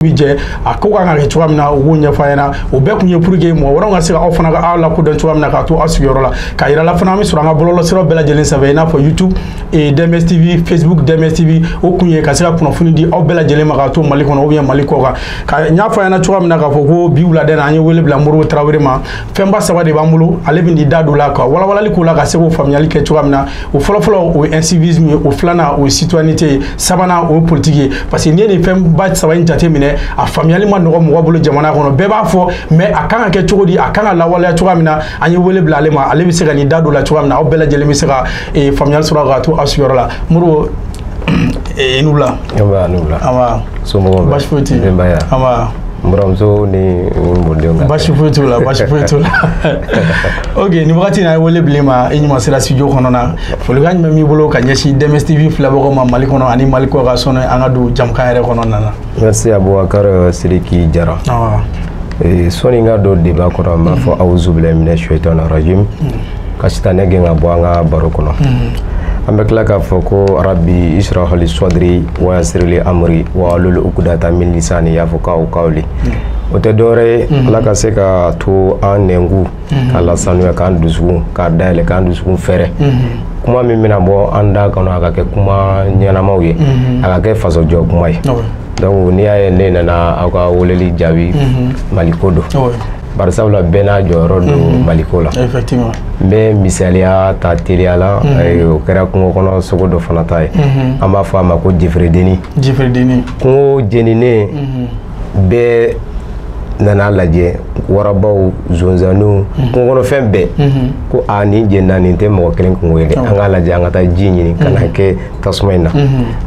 bi jɛ a ko kan ka kɛ cogoya min na u b'o ɲɛfɔ a ɲɛna o bɛɛ kun ye pour que mɔgɔ wɛrɛw ka se ka aw fana ka aw lakodɔn cogoya min na k'a to aw sigiyɔrɔ la ka yira la fana an bɛ sɔrɔ an ka bɔlɔlɔsiraw bɛɛ lajɛlen sanfɛ i n'a fɔ youtube eh, dms tv facebook dms tv o kun ye ka se ka kunnafoni di aw bɛɛ lajɛlen ma k'a to mali kɔnɔ ou bien mali kɔ kan ka n y'a fɔ a ɲɛna cogoya min na k'a fɔ ko bi wulada in na an ye wele bila modibo tarawele ma fɛnba saba de b'an bolo ale bɛ n'i da don la ka walawalali k'o la ka se k'o faamuyali kɛ cogoya min na o fɔlɔfɔlɔ o ye incivisme ye o filanan o ye citoyenneté ye sabanan o ye politiki ye parce que n'i ye nin fɛnba saba in jateminɛ a faamuyali ma nɔgɔ mɔgɔ bolo jamana kɔnɔ bɛɛ b'a fɔ mais a kan ka kɛ cogo di a kan ka lawaleya cogoya min na an ye wele bila ale ma ale bɛ se ka n'i da don la cogoya min na aw bɛɛ lajɛlen bɛ se ka faamuyali sɔrɔ ka to aw sigiyɔrɔ la modibo i ni wula so basi foyi tɛ denbaya n buramuso ni mɔdenw ka basi foyi t'u la basi foyi t'u la ok nin wagati in an ye wele bila e ma i ɲuman sera studio kɔnɔ na folikan jumɛn b'i bolo ka ɲɛsin dms tv filɛbagaw ma mali kɔnɔ ani mali kɔ kan sɔnni an ka don jamukan yɛrɛ kɔnɔna na merci abubakar sidiki jara sɔni n ka don débat kɔnɔ n b'a fɔ awuzubilahi mina shaitani rajim ka sitanɛ gɛn ka bɔ an ka baro kɔnɔ an bɛ tila k'a fɔ ko rabi israhali sɔdiri wayasirili amri wa alulu ukudata min lisani yafukahu kawli o tɛ dɔwɛrɛ ye ala ka se ka to an nɛnkun k'a lasanuya k'an dusukun k'a dayɛlɛ k'an dusukun fɛrɛ kuma min bɛna bɔ an da kɔnɔ a ka kɛ kuma ɲɛnamaw ye a ka kɛ fasojɔ kuma ye donc n'i y'a ye ne nana aw ka weleli jaabi maliko don bari sabu la bɛɛ n'a jɔyɔrɔ don mhm. maliko la n bɛ misaliya ta teliya la mhm. o kɛra kungo kɔnɔ sogo dɔ fana ta ye mhm. an b'a fɔ a ma ko jeferedeni kungo jeninen bɛɛ nana lajɛ warabaw zonzanniw kungo kɔnɔ fɛn bɛɛ ko a nin jenina nin tɛ mɔgɔ kelen kungo ye dɛ an k'a lajɛ an ka taa ji ɲini ka na kɛ tasuma in na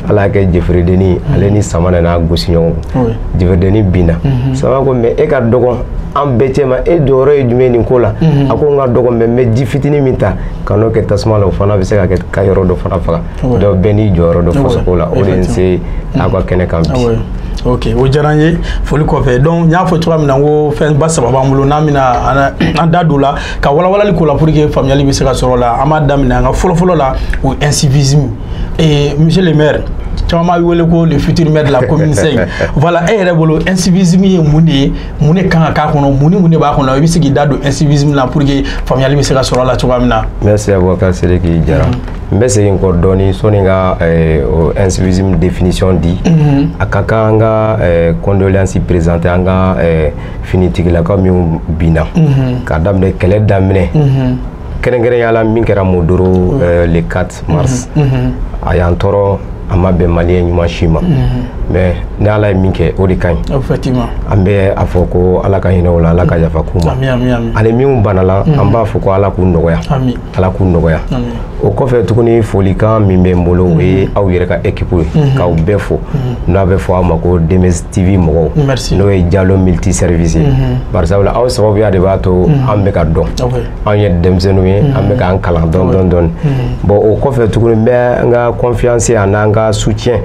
ala y'a kɛ jefiridennin ale ni sama nana gosi ɲɔgɔn kun jefiridennin binna sama ko mais e ka dɔgɔn an bɛɛ cɛma e jɔyɔrɔ ye jumɛn nin ko la a ko n ka dɔgɔn mais n bɛ ji fitinin min ta ka n'o kɛ tasuma la o fana bɛ se ka kɛ ka yɔrɔ dɔ fana faga donc bɛɛ n'i jɔyɔrɔ don fasoko la o de ye n se aw ka kɛnɛ kan bi ok o diyara n ye foli kɔfɛ donc n y'a fɔ cogoya min na ko fɛnba saba b'an bolo n'an bɛna an da don la ka walawalali k'o la pour que faamuyali bɛ se ka sɔrɔ la an b'a daminɛ an ka fɔlɔfɔlɔ la o incivisme eh, monsieur le maire caman b'a wele ko le futur maire de la commune cinq voilà e yɛrɛ bolo incivisme ye mun de ye mun de kan ka k'a kɔnɔ mun ni mun de b'a kɔnɔ i bɛ se k'i da don incivisme la pour que faamuyali bɛ se ka sɔrɔ a la cogoya min na. merci abubakar sidiki jara mm-hmm. n bɛ segin kɔ dɔɔni sɔni ka eh, o incivisme définition di mm-hmm. a ka kan an ka eh, condoléance présenter an ka eh, finitigilakaw minnu binna mhm. k'a daminɛ kɛlɛ daminɛ mhm. kɛrɛnkɛrɛnya la min kɛra mondoro mhm. euh, le 4 mars a y'an tɔɔrɔ a ma bɛn maliyɛn ɲuman si ma mais ni ala ye min kɛ o de ka ɲi an bɛ a fɔ ko ala ka hinɛ u la ala ka yafa k'u ma ani minnu banala an b'a fɔ ko ala k'u nɔgɔya ala k'u nɔgɔya o kɔfɛ tuguni folikan min bɛ n bolo o ye mhm. aw yɛrɛ ka ekipu ye mhm. k'aw bɛɛ fo mhm. n'a bɛ fɔ aw ma ko dms tv mɔgɔw n'o ye jalo multi service ye barisabula aw sababuya de b'a to an bɛ ka dɔn anw ye denmisɛnninw ye an bɛ k'an kalan dɔɔni dɔɔni bon o kɔfɛ tuguni n bɛ n ka confiance an n'an ka soutien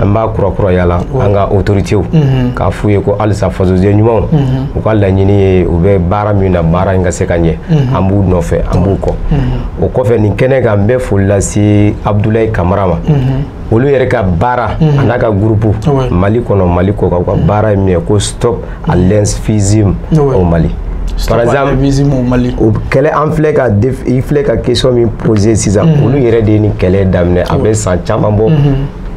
an b'a kurakuraya la an ka autoritew k'a f'u ye ko halisa fasoden ɲumanw u ka laɲini ye u bɛ baara min na baara in ka se ka ɲɛ mhm. an b'u nɔfɛ an b'u kɔ mhm. o kɔfɛ nin kɛnɛ kan n bɛ foli lase abudulayi kamara ma mhm. olu yɛrɛ ka baara a n'a ka gurupu ah mali kɔnɔ mali kɔ kan u ka baara ye min ye ko stop à l'incivisme ah au mali par exemple o kɛlɛ an filɛ ka i filɛ ka question min poser sisan olu yɛrɛ de ye nin kɛlɛ daminɛ a bɛ san caman bɔ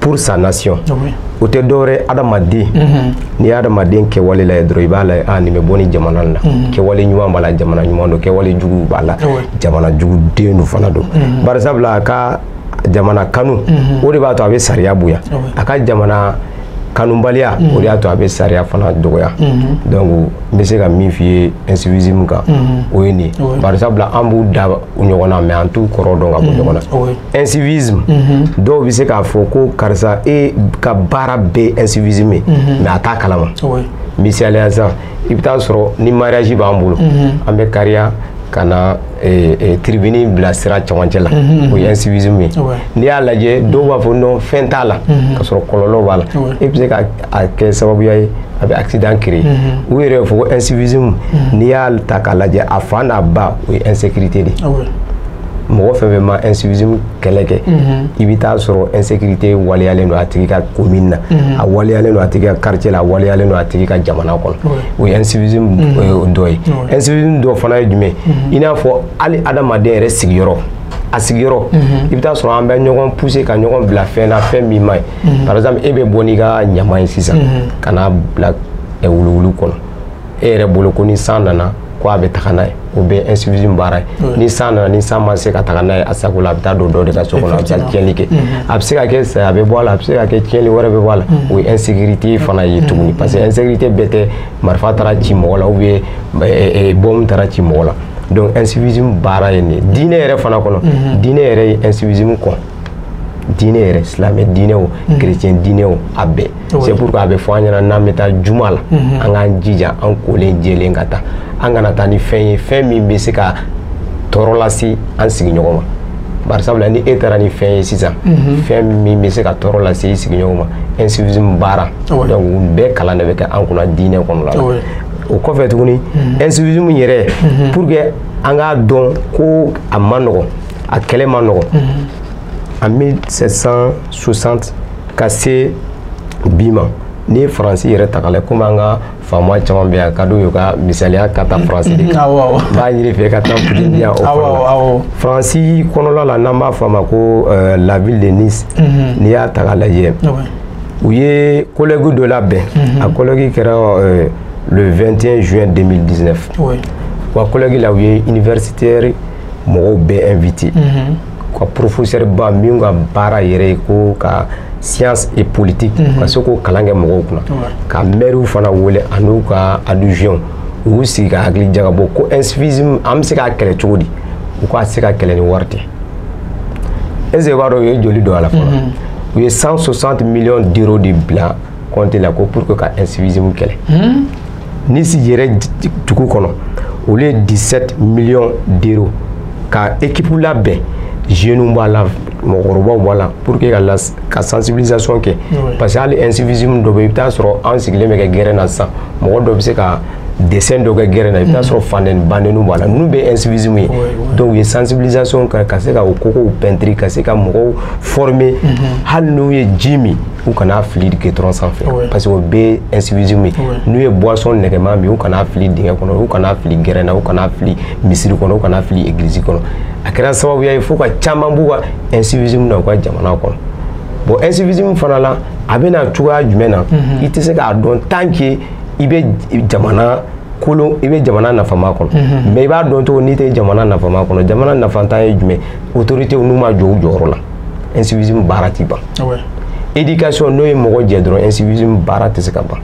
pour sa nation ah o tɛ dɔwɛrɛ adamaden mhm. n'i y'adamaden kɛwale lajɛ dɔrɔn i b'a lajɛ a ah, nin bɛ bɔ nin jamana la mhm. kɛwale ɲuman b'a la jamana ɲuman don kɛwale jugu b'a la ah jamana juguden don fana don mhm. bari sabula a ka jamana kanu o de b'a to a bɛ sariya bonya a ka jamana kanubaliya mm. o de y'a to a bɛ sariya fana dɔgɔya mm-hmm. donc n bɛ se ka min f'i ye incivisme kan mm-hmm. o ye nin ye bari sabula an b'u da u ɲɔgɔn na mais an t'u kɔrɔ dɔn ka bɔ ɲɔgɔn na incivisme dɔw bɛ se k'a fɔ ko karisa e ka baara bɛɛ incivisme ye mais a t'a kalama misaliya sisan i bɛ taa sɔrɔ ni mariage b'an bolo an bɛ kariya ka na eh, eh, tribune bila sira cɛmancɛ la o ye incivisme ye n'i y'a lajɛ dɔw b'a fɔ non fɛn t'a la ka sɔrɔ kɔlɔlɔ b'a la e bɛ se ka a kɛ sababuya ye a bɛ accident créer u yɛrɛ b'a fɔ ko incivisme n'i y'a ta k'a lajɛ a fa n'a ba o ye insécurité de ye mɔgɔ fɛn fɛn ma incivisme kɛlɛ kɛ i bɛ taa sɔrɔ insécurité waleyalen don a tigi ka commune na a waleyalen don a tigi ka quartier la a waleyalen don a tigi ka jamana kɔnɔ o ye incivisme dɔ ye incivisme dɔ fana ye jumɛn i n'a fɔ hali adamaden yɛrɛ sigiyɔrɔ a sigiyɔrɔ i bɛ taa sɔrɔ an bɛ ɲɔgɔn pousser ka ɲɔgɔn bila fɛn na fɛn min man ɲi mhm. par exemple e bɛ bɔ n'i ka ɲaman ye sisan mhm. ka n'a bila eh, wuluwulu kɔnɔ e yɛrɛ bolo ko ni san nana ko a bɛ taga n'a ye o bɛ incivisme baara ye ni san nana ni san ma se ka taga n'a ye a sago la a bɛ taa don dɔ de ka so kɔnɔ a bɛ taa tiɲɛni kɛ a bɛ se ka kɛ saya bɛ bɔ a la a bɛ se ka kɛ tiɲɛni wɛrɛ bɛ bɔ a la o ye insécurité fana ye tuguni parce que insécurité bɛɛ tɛ marifa taara ci mɔgɔ la ou bien eh, eh, bɔmu taara ci mɔgɔ la donc incivisme baara ye nin ye diinɛ yɛrɛ fana kɔnɔ diinɛ yɛrɛ ye incivisme kɔn diinɛ yɛrɛ silamɛ diinɛ o mhm. chrétien diinɛ o a bɛɛ c'est pourquoi a bɛ fɔ an ɲɛna n'an bɛ taa juma la mhm. an k'an jija an kolen jɛlen ka taa an kana taa ni fɛn ye fɛn min bɛ se ka tɔɔrɔ lase an sigiɲɔgɔn ma bari sabula ni e taara ni fɛn ye sisan mhm. fɛn min bɛ se ka tɔɔrɔ lase i sigiɲɔgɔn ma incivisme baara donc bɛɛ kalan de bɛ kɛ an kunna diinɛ kɔnɔ la o kɔfɛ tuguni incivisme yɛrɛ pour que an k'a dɔn ko a man nɔgɔ a kɛlɛ man nɔgɔ en 1760 ka se bi ma n'i ye faransi yɛrɛ ta k'a lajɛ komi an ka faama caman bɛ yan ka d'u ye ka misaliya ka taa faransi de kan n b'a ɲini fɛ ka taa fitini yan o fana la faransi kɔnɔla la n'an b'a fɔ a ma ko euh, la ville de nice mhm. n'i y'a ta k'a lajɛ u ye colloque dɔ labɛn mhm. a colloque kɛra euh, le 21 juin 2019 wa colloque la u ye universitaire mɔgɔw bɛɛ invité mhm. ka professeur ba minw ka baara yɛrɛ ye ko ka science et politique mhm. ka se k'o kalan kɛ mɔgɔw kunna ka maires fana wele an'u ka adjoint u y'u sigi ka hakili jagabɔ ko incivisme an bɛ se k'a kɛlɛ cogo di u k'a se ka kɛlɛ ni wari tɛ est-ce que i b'a dɔn u ye joli don a la fɔlɔ mhm. u ye 160 millions d'euros de bila compte la ko pour que ka incivisme kɛlɛ. nice yɛrɛ dugu kɔnɔ olu ye 17 millions d'euros ka équipe labɛn jeunes b'a la mɔgɔkɔrɔbaw b'a la pour que ka las ka sensibilisation kɛ parce que hali incivisme dɔ bɛ i bɛ taa sɔrɔ an sigilen bɛ kɛ gɛrɛn na sisan mɔgɔ dɔ bɛ se ka dessin dɔ kɛ gɛrɛn na i bɛ taa sɔrɔ fandɛni bandɛniw b'a la ninnu bɛɛ incivisme ye donc u ye sensibilisation kɛ ka se ka o kogow pɛntiri ka se ka mɔgɔw former hali n'u ye ji min u kana fili gudɔrɔn sanfɛ parce que o bɛɛ incivisme ye n'u ye boisson nɛgɛman min u kana fili dingɛ kɔnɔ u kana fili gɛrɛn na u kana fili misiri kɔnɔ u kana fili église kɔnɔ a kɛra sababuya ye fo ka caman b'u ka incivisme na u ka jamana kɔnɔ bon incivisme fana la a bɛ na cogoya jumɛn na mhm. i tɛ se k'a dɔn tant que i bɛ jamana kolon i bɛ jamana nafama kɔnɔ mhm. mais i b'a dɔn cogo n'i tɛ jamana nafama kɔnɔ jamana nafantan ye jumɛn autorités n'u ma jɔ u jɔyɔrɔ la incivisme baara tɛ ban éducation n'o ye mɔgɔ jɛ dɔrɔn incivisme baara tɛ se ka ban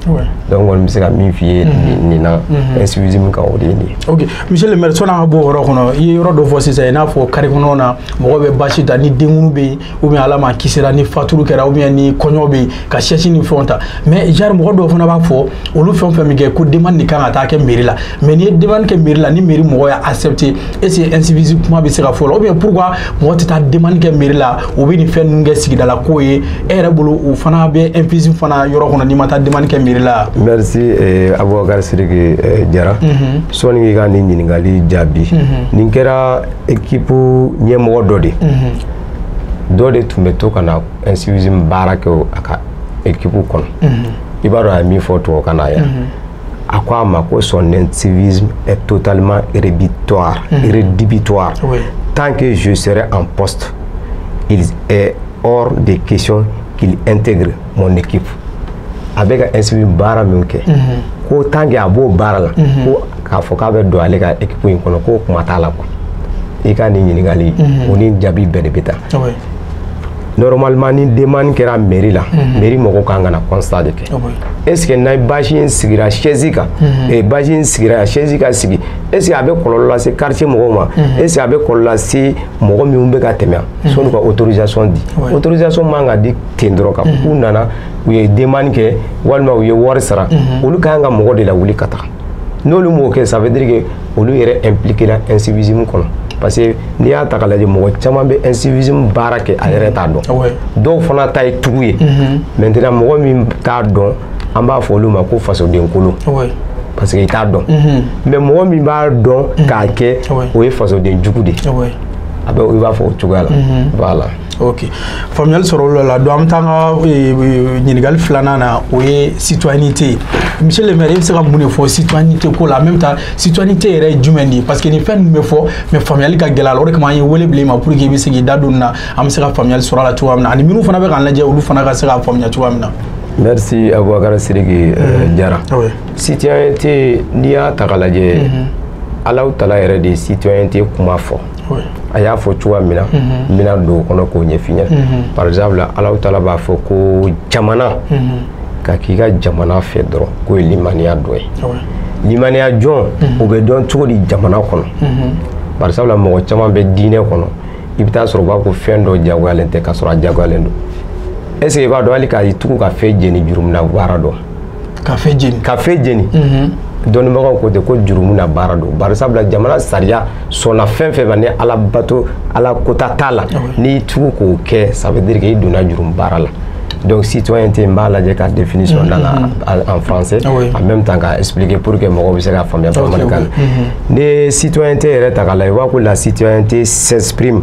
donc kɔni bɛ se ka min f'i ye mhm. nin na mhm. incivisme kan o de ye nin ye ok monsieur le maire sɔni an ka bɔ o yɔrɔ kɔnɔ i ye yɔrɔ dɔ fɔ sisan i n'a fɔ carré kɔnɔnaw na mɔgɔ bɛ basi ta ni denkunu bɛ yen ou bien ala m'an kisira ni faturu kɛra ou bien ni kɔɲɔ bɛ yen ka sɛsi ni fɛnw ta mais genre mɔgɔ dɔw fana b'a fɔ olu fɛn fɛn min kɛ ko demande de kan ka taa kɛ mairie la mais n'i ye demande kɛ mairie la ni mairie mɔgɔ y'a accepté est ce que incivisme kuma bɛ se ka fɔ la ou bien pourquoi mɔgɔ tɛ taa demande kɛ mairie la u bɛ nin fɛn ninnu kɛ sigidala ko ye e yɛrɛ bolo o fana bɛ incivisme fana yɔrɔ kɔnɔ n'i ma taa demande kɛ mairie la merci eh, abubakar sidiki eh, jara mm -hmm. sɔni k'i ka nin ɲininkali jaabi mm -hmm. nin kɛra ekipu ɲɛmɔgɔ dɔ de mm -hmm. dɔ de tun bɛ to ka na incivisme baara kɛ a ka ekipu kɔnɔ mhm. i b'a dɔn a ye min fɔ tubabukan na yan mhm. a ko a ma ko son incivisme est totalement rédhibitoire mhm. rédhibitoire tant que je serai en poste il est hors de question qu'il intègre mon équipe a bɛ ka incivisme baara min kɛ ko tant que a b'o baara la ko k'a fɔ k'a bɛ don ale ka ekipu in kɔnɔ k'o kuma t'a la quoi i ka nin ɲininkali o ni jaabi bɛɛ de bɛ taa normalement ni demande kɛra mairie la mhm. mairie mɔgɔw kan ka na constat de kɛ ah est ce que n'a bâche in sigira chaise kan mhm. eh, bâche in sigira chaise ka sigi est ce que a bɛ kɔlɔlɔ lase quartier mɔgɔw ma mhm. est ce que a bɛ kɔlɔlɔ lase mɔgɔ minnu bɛ ka tɛmɛ sɔnni ka autorisation di ah autorisation man ka di ten dɔrɔn ka k'u nana u ye demande kɛ walima u ye wari sara olu ka kan ka mɔgɔ de lawuli ka taa n'olu m'o kɛ ça veut dire que olu yɛrɛ impliqué la incivisme kɔnɔ parce que n'i y'a ta k'a lajɛ mɔgɔ caman bɛ incivisme baara kɛ a yɛrɛ t'a dɔn ah dɔw fana ta ye tugu ye mhm. maintenant mɔgɔ min t'a dɔn an b'a fɔ olu ma ko fasoden kolon ah parce que i t'a dɔn mhm. mais mɔgɔ min b'a dɔn mhm. k'a kɛ ah o ye fasoden jugu de ye a bɛ i b'a fɔ o cogoya la voilà ok faamuyali sɔrɔl'a la donc an bɛ taa an ka ɲininkali filanan na o ye citoyenneté ye monsieur le maire i bɛ se ka mun de fɔ citoyenneté ko la en même temps citoyenneté yɛrɛ ye jumɛn de ye parce que nin fɛn ninnu bɛ fɔ mais faamuyali ka gɛlɛn a la o de kama an ye wele bila i ma pour que i bɛ se k'i da don nin na an bɛ se ka faamuyali sɔrɔ a la cogoya min na ani minnu fana bɛ k'an lajɛ olu fana ka se k'a faamuya cogoya min na. merci abubakar sidiki jara citoyenneté n'i y'a ta k'a lajɛ alahu taala yɛrɛ de ye citoyenneté kuma fɔ. a y'a fɔ cogoya min na n bɛna don o kɔnɔ k'o ɲɛf'i ɲɛna par exemple alahu taala b'a fɔ ko jamana ka k'i ka jamana fɛ dɔrɔn k'o ye limaniya dɔ ye limaniya jɔn o bɛ dɔn cogo di jamana kɔnɔ par exemple mɔgɔ caman bɛ diinɛ kɔnɔ i bɛ taa sɔrɔ u b'a fɔ fɛn dɔ jagoyalen tɛ k'a sɔrɔ a jagoyalen don est ce que i b'a dɔn hali ka tugu ka feu jeni jurumu na baara don ka feu jeni ka feu jeni mhm. dɔnnibagaw ko ten ko jurumu na baara don bari sabula jamana sariya sɔnna fɛn fɛn ma ni ala bato ala kota t'a la ah n'i tugu k'o kɛ ça veut dire que i donna jurumu baara la donc citoyenneté n b'a lajɛ ka définition mhm, da la mhm. en français ah en même temps k'a expliquer pour que mɔgɔw bɛ se k'a faamuya bamanankan na n'i ye citoyenneté yɛrɛ ta k'a lajɛ i b'a ko la citoyenneté s'exprime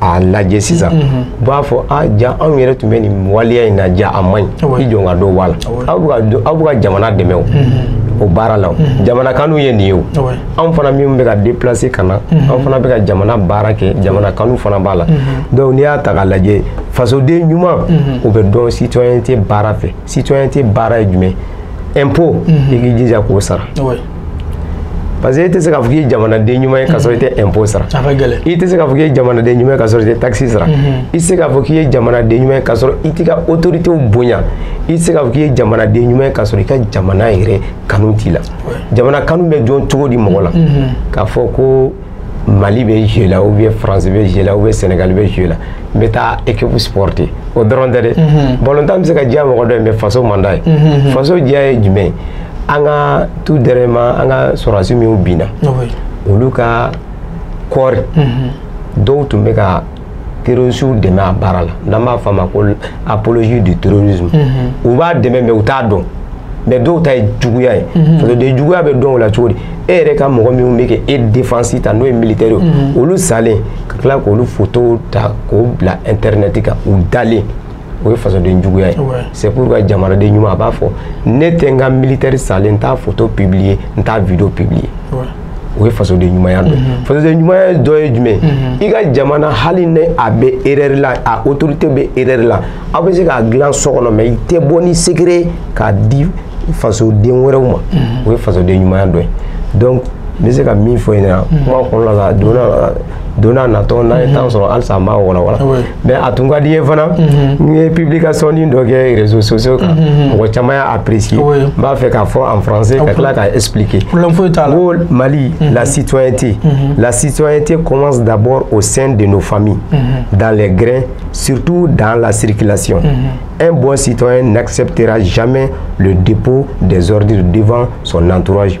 a lajɛ sisan u b'a fɔ a ja anw yɛrɛ tun bɛ nin waleya in na ja a man ɲi i jɔ ka dɔ b'a la aw bɛ ka jamana dɛmɛ o o baara la jamanakanu ye nin ye o anw fana minnu bɛ ka déplacer ka na anw fana bɛ ka jamana baara kɛ jamanakanu fana b'a la donc n'i y'a ta k'a lajɛ fasoden ɲuman o bɛ dɔn citoyenneté baara fɛ citoyenneté baara ye jumɛn impôt i k'i jija k'o sara parce que e tɛ se k'a fɔ k'i ye jamanaden ɲuman ye k'a sɔrɔ i tɛ impôt sara i tɛ se k'a fɔ k'i ye jamanaden ɲuman ye k'a sɔrɔ i tɛ taxe sara i tɛ se k'a fɔ k'i ye jamanaden ɲuman ye k'a sɔrɔ i t'i ka autorités bonya i tɛ se k'a fɔ k'i ye jamanaden ɲuman ye k'a sɔrɔ i ka jamana yɛrɛ kanu t'i la jamana kanu bɛ dɔn cogo di mɔgɔ la k'a fɔ ko mali bɛ jeu la ou bien france bɛ jeu la ou bien sénégal bɛ jeu la n bɛ taa équipe supporter o dɔrɔn tɛ dɛ balontan bɛ se ka diya mɔgɔ dɔ ye mais faso man d'a ye faso diya ye jumɛn ye an ka tout dernièrement an ka sɔrɔdasi minnu binna olu ka corps dɔw tun bɛ ka terrorisiw dɛmɛ a baara la n'an b'a fɔ a ma ko apologie du terrorisme u b'a dɛmɛ mais u t'a dɔn mais dɔw ta ye juguya ye fasoden juguya bɛ dɔn o la cogo di e yɛrɛ ka mɔgɔ minnu bɛ k'e défense ta n'o ye militaire ye olu salen ka tila k'olu photo ta k'o bila internet kan u dalen o ye fasoden juguya ye c'est pourquoi jamanaden ɲuman a b'a fɔ ne tɛ n ka militaire salen n t'a photo publier n t'a video publier o ye fasoden ɲumanya dɔ mhm. fasoden ɲumanya dɔ ye jumɛn mhm. i ka jamana hali ni a bɛ erreur la a autorité bɛ erreur la aw bɛ se k'a dilan so kɔnɔ mais i tɛ bɔ ni secret k'a di fasoden wɛrɛw ma mhm. o ye fasoden ɲumanya dɔ ye donc n bɛ se ka min fɔ i ɲɛna kuma kɔnɔna la donna don n'a natɔ n'an ye temps sɔrɔ halisa an b'a walawala mais a tun ka di n ye fana n ye publication nin dɔ kɛ réseaux sociaux kan mɔgɔ caman y'a apprécier n b'a fɛ k'a fɔ en français ka tila k'a expliquer ko Mali la citoyenneté la citoyenneté commence d'abord au sein de nos familles dans les grins surtout dans la circulation un bon citoyen n'acceptera jamais le dépôt des ordures devant son entourage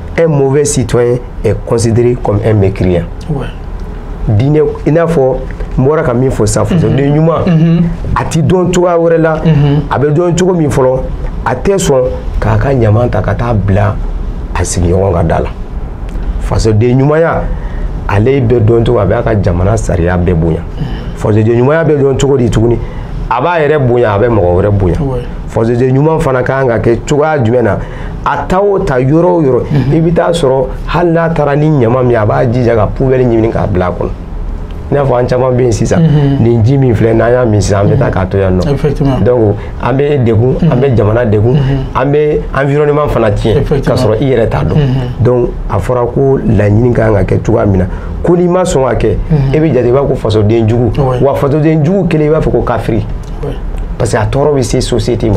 un mauvais citoyen est considéré comme un mécréant ouais. diinɛ i n'a fɔ n bɔra ka min fɔ sisan fasoden mhm. ɲuman mhm. a ti dɔn cogoya wɛrɛ la mhm. a bɛ dɔn cogo min fɔlɔ a tɛ sɔn k'a ka ɲaman ta ka taa bila a sigiɲɔgɔn ka da la fasoden ɲumanya ale bɛ dɔn cogo a b'a ka jamana sariya bɛɛ bonya fasoden ɲumanya bɛ dɔn cogo di tuguni a b'a yɛrɛ bonya a bɛ mɔgɔ wɛrɛ bonya fasoden ɲuman fana ka kan ka kɛ cogoya jumɛn na a ta o ta yɔrɔ o yɔrɔ mhm. i bɛ taa sɔrɔ hali n'a taara ni ɲama min a b'a jija ka poubelle ɲini k'a bila a kɔnɔ i n'a fɔ an caman bɛ yen sisan mhm. nin ji min filɛ n'an y'a min sisan an bɛ taa mhm. k'a to yan nɔ donc an bɛ degun an bɛ jamana degun an bɛ environnement fana tiɲɛ k'a sɔrɔ i yɛrɛ t'a dɔn donc a fɔra ko laɲini ka kan ka kɛ cogoya min na ko n'i ma sɔn ka kɛ e bɛ jate i b'a fɔ ko fasoden jugu wa fasoden jugu kelen i b'a fɔ ko kafiri parce que a tɔɔrɔ bɛ se société ma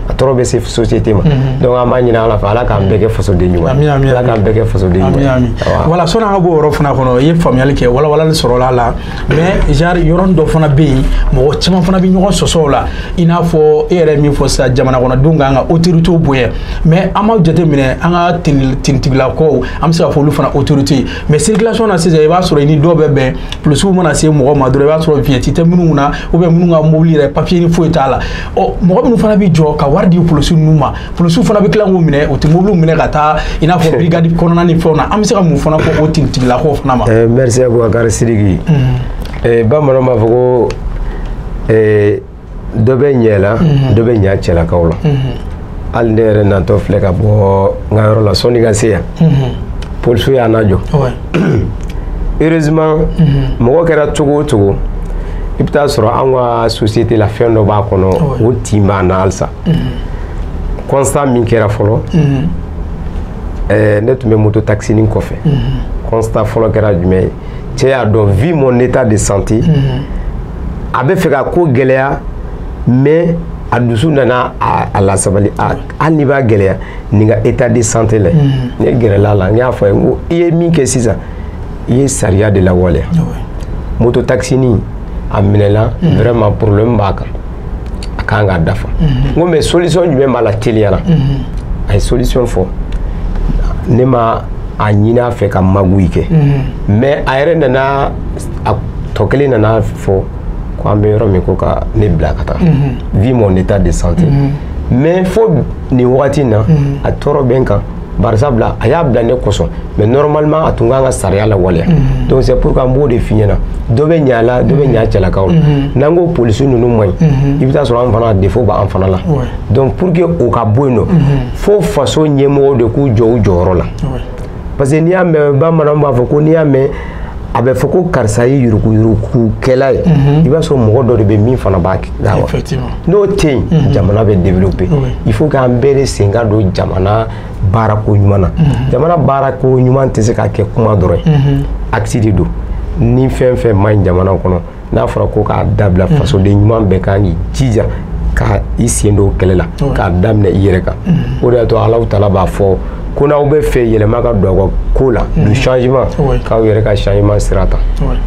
a tɔɔrɔ bɛ se société ma mhm. donc an b'a ɲini ala fɛ ala k'an bɛɛ kɛ fasoden ɲuman ye ala k'an bɛɛ kɛ fasoden ɲuman ye voilà sɔnni an ka bɔ o yɔrɔ fana kɔnɔ i ye faamuyali kɛ walawalali sɔrɔla a la mais genre yɔrɔnin dɔ fana bɛ yen mɔgɔ caman fana bɛ ɲɔgɔn sɔsɔ o la i n'a fɔ e yɛrɛ min fɔ sisan jamanakɔnɔdenw kan ka autorité bonya mais an b'a jateminɛ an ka tinitigilakaw an bɛ se ka fɔ olu fana autorité mais circulation na sisan i b'a sɔrɔ i ni dɔw bɛ bɛn polisiw mana se mɔgɔ ma dɔrɔn i b'a sɔrɔ vignette tɛ minnu na ou bien minnu ka mobili yɛrɛ papier ni foyi t'a la ɔ mɔgɔ minnu fana bɛ jɔ ka wari di polisiw ninnu ma polisiw fana bɛ tila k'u minɛ u tɛ mobiliw minɛ ka taa i n'a fɔ brigade kɔnɔna ni fɛnw na an bɛ se ka mun fana fɔ o tinitigilakaw fana ma. ɛɛ merci abubakari sidiki. ɛɛ bamananw b'a fɔ ko ɛɛ. dɔ bɛ ɲa la mhm. dɔ bɛ ɲa cɛlakaw la mhm. hali ne yɛrɛ natɔ filɛ ka bɔ n ka yɔrɔ la sɔnni ka se yan mhm. polisiw y'an najɔ heureusement mɔgɔ kɛra cogo o cogo i bɛ taa sɔrɔ an ka société la fɛn dɔ b'a kɔnɔ o tin b'an na halisa constat min kɛra fɔlɔ ne tun bɛ moto taxinin kɔfɛ constat fɔlɔ kɛra jumɛn ye cɛ y'a dɔn vu mon état de santé a bɛ fɛ ka ko gɛlɛya mais a dusu nana a lasabali hali n'i b'a gɛlɛya nin ka état de santé lajɛ mm. ne gɛrɛla a la n y'a fɔ a ye n ko i ye min kɛ sisan i ye sariya de lawaleya ah moto taxinin a minɛla mm. vraiment problème b'a kan a kan k'a dafa mm-hmm. n ko mais solution jumɛn b'a la teliya la mm-hmm. a ye solution fɔ ne ma a ɲini a fɛ ka magouille kɛ mm-hmm. mais a yɛrɛ nana a tɔ kelen nana fɔ ko an bɛ yɔrɔ min ko ka ne bila ka taa vu mhm. mon état de santé mhm. mais fo nin wagati in na mhm. a tɔɔrɔ bɛ n kan bari sabula a y'a bila ne kosɔn mais normalement a tun kan ka sariya lawaleya donc c'est pourquoi n b'o de f'i ɲɛna dɔ bɛ ɲa la dɔ bɛ ɲa cɛlakaw la n'an ko polisi ninnu man ɲi i bɛ taa sɔrɔ an fana défaut b'an fana la donc pour que o ka bɔ yen nɔ fo faso ɲɛmɔgɔw de k'u jɔ u jɔyɔrɔ la parce que n'i y'a mɛn bamananw b'a fɔ ko n'i y'a mɛn a bɛ fɔ ko karisa ye yurukuyurukukɛla ye mhm. i b'a sɔrɔ mɔgɔ dɔ de bɛ min fana b'a la wa n'o tɛ yen mhm. jamana bɛ développer il faut k'an bɛɛ de sen ka don jamana baarako ɲuman na mhm. jamana baarako ɲuman tɛ se ka kɛ kuma dɔrɔn ye acte de don ni fɛn fɛn man ɲi jamana kɔnɔ n'a fɔra ko k'a dabila mm. fasoden ɲuman bɛɛ kan k'i jija ka i sen don kɛlɛ la k'a daminɛ i yɛrɛ kan mm. o de y'a to alahu taala b'a fɔ ko n'aw bɛ fɛ yɛlɛma ka don aw ka ko la mm. du changement k'aw yɛrɛ ka changement sira ta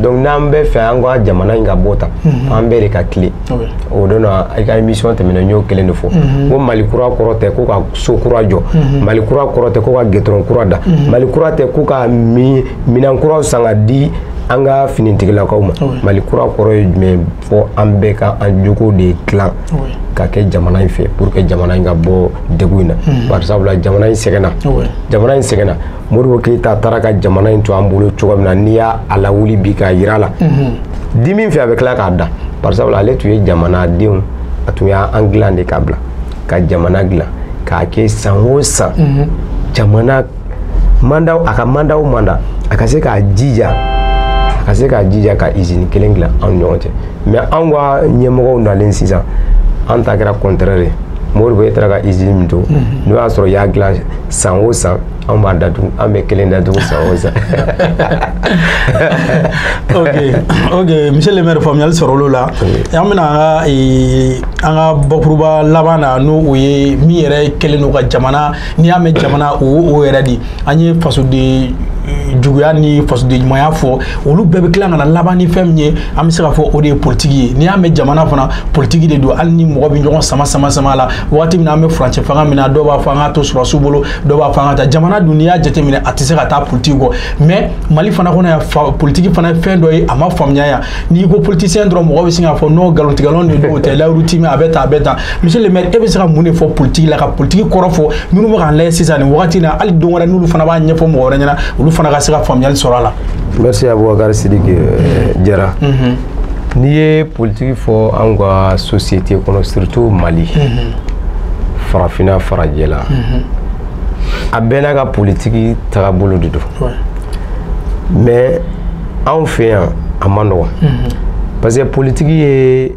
donc n'an bɛ fɛ an ka jamana in ka bɔ tan mm-hmm. an bɛɛ de ka tilen o don na i ka émission tɛmɛna n y'o kelen de fɔ mm-hmm. ko mali kura kɔrɔ tɛ ko ka so kura jɔ mm-hmm. mali kura kɔrɔ tɛ ko ka gitɔrɔn kura da mali kura tɛ ko ka minɛn kuraw san ka di an ka finitigilakaw ma mali kura kɔrɔ ye jumɛn fɔ an bɛɛ ka an jogo de dilan ka kɛ jamana in fɛ pour que jamana in ka bɔ degun in na hmm. bari sabula jamana in sɛgɛnna jamana in sɛgɛnna modibo keyita taara ka jamana in to an bolo cogo min na n'i y'a lawuli bi k'a yira la hmm. dimi fɛ a bɛ tila k'a da bari sabula ale tun ye jamanadenw a tun y'an dilan de k'a bila ka jamana dilan k'a kɛ san o san hmm. jamana manda a ka manda o manda a ka se k'a jija a ka se k'a jija ka izini kelen dilan anw ni ɲɔgɔn cɛ mɛ anw ka ɲɛmɔgɔw nalen sisan an ta kɛra kɔntrɛre ye modibo e taara ka izini min to n'o y'a sɔrɔ y'a dilan san o san anw b'a datugu an bɛ kelen datugu san o san ok ok monsieur le maire faamuyali sɔrɔla o la an bɛna an ka an ka bakuruba laban na n'o ye min yɛrɛ kɛlen don ka jamana n'i y'a mɛn jamana o o yɛrɛ de an ye fasoden eh, juguya ni fasoden ɲumanya fɔ olu bɛɛ bɛ tila ka na laban ni fɛn min ye an bɛ se k'a fɔ o de ye politiki ye n'i y'a mɛn jamana fana politiki de don hali ni mɔgɔ bɛ ɲɔgɔn sama sama sama la waati min na an bɛ furancɛ fanga min na dɔw b'a fɔ an ka to sɔrɔsiw bolo dɔw b'a fɔ an ka taa jamana dun n'i y'a jateminɛ a tɛ se ka taa politiki kɔ mɛ mali fana kɔnɔ yan politiki fana ye fɛn dɔ ye a ma faamuya yan n'i ko politisiyɛn dɔrɔn mɔgɔ bɛ sin k'a fɔ non nkalontigɛlanw de don o tɛ layiru timɛ a bɛ tan a bɛ tan monsieur le maire e bɛ se ka mun de fɔ politiki la ka politiki kɔrɔ fɔ minnu bɛ k'an lajɛ sisan nin wagati in na hali don wɛrɛ n'olu fana b'a ɲɛfɔ mɔgɔ wɛrɛ ɲɛna olu fana ka se ka faamuyali sɔrɔ a la. merci abubakar sidiki euh, jara. Mhm. n'i ye politiki fɔ anw ka société kɔnɔ surtout mali. Mhm. farafinna farajɛla. Mhm. a bɛɛ n'a ka politiki tagabolo de don. mais anw fɛ yan a man nɔgɔn. parce que politiki ye.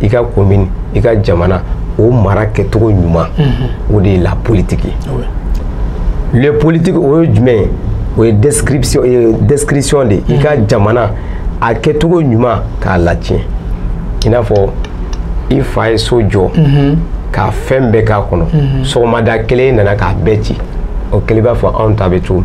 i ka komin i ka jamana o mara kɛcogo ɲuman mhm. o de ye la politiki le politiki o ye jumɛn ye o ye destruction ye destruction de i ka mhm. jamana a kɛcogo ɲuman k'a latiɲɛ i n'a fɔ i fa ye so jɔ mhm. ka fɛn bɛɛ k'a kɔnɔ sɔgɔmada kelen e nana k'a bɛɛ ci o kelen b'a fɔ anw ta bɛ cogo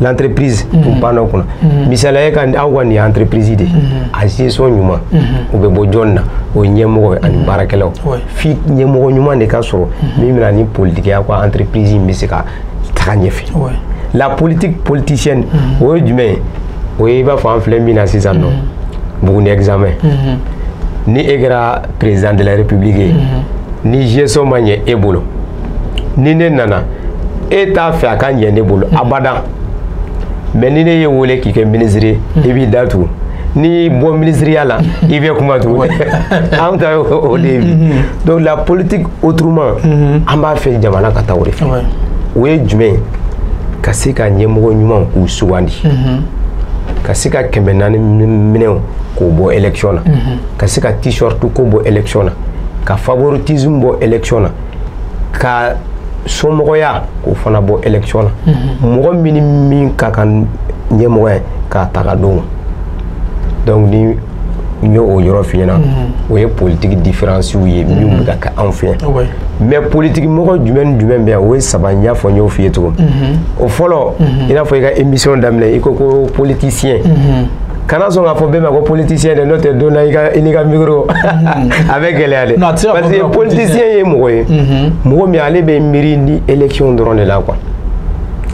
l'entreprise mm -hmm. u banna o kunna mm -hmm. misaliya ye ka aw ka nin ye entreprise de mm -hmm. a gestion ɲuman mm -hmm. o bɛ bɔ jɔn na o ye ɲɛmɔgɔ ye ani baarakɛlaw ouais. fo ɲɛmɔgɔ ɲuman de ka sɔrɔ mm -hmm. min bɛ na ni politiki ye a ka entreprise in bɛ se ka taga ɲɛfɛ ouais. la politique politicienne mm -hmm. o ye jumɛn ye o ye i b'a fɔ an filɛ min na sisan nɔ buguni examen mm -hmm. ni e kɛra président de la république ye mm -hmm. ni gestion ma ɲɛ e bolo ni ne nana e t'a fɛ a ka ɲɛ ne bolo abada mais ni ne y'i wele k'i kɛ minisiri ye i b'i da tugu n'i bɔ minisiriya la i bɛ kuma tugun an ta o de ye bi donc la politique autrement an b'a fɛ jamana ka taa o de fɛ o ye jumɛn ye ka se ka ɲɛmɔgɔ ɲumanw k'u sugandi ka se ka kɛmɛ naani minɛw k'o bɔ élection na ka se ka t-shirt ko bɔ élection na ka favoritisme bɔ élection na ka somɔgɔya k'o fana bɔ élection na mhm. mɔgɔ min ni min ka kan ɲɛmɔgɔ ye k'a ta k'a d'o ma donc ni n ye o yɔrɔ f'i ɲɛna mhm. o ye politiki diferansiw ye minnu mhm. bɛ ka kɛ anw fɛ yan mais politiki mɔgɔ jumɛn ni jumɛn bɛ yan o ye saba n y'a fɔ n y'o f'i ye cogo o fɔlɔ i n'a fɔ i ka émission daminɛ i ko ko politisiyɛn kana sɔn k'a fɔ bɛɛ ma ko politicien dɛ n'o tɛ don na i ka i n'i ka micro mm-hmm. a bɛ gɛlɛya dɛ parce que politicien ye mɔgɔ ye mm-hmm. mɔgɔ min ale bɛ miiri ni élection dɔrɔn de la quoi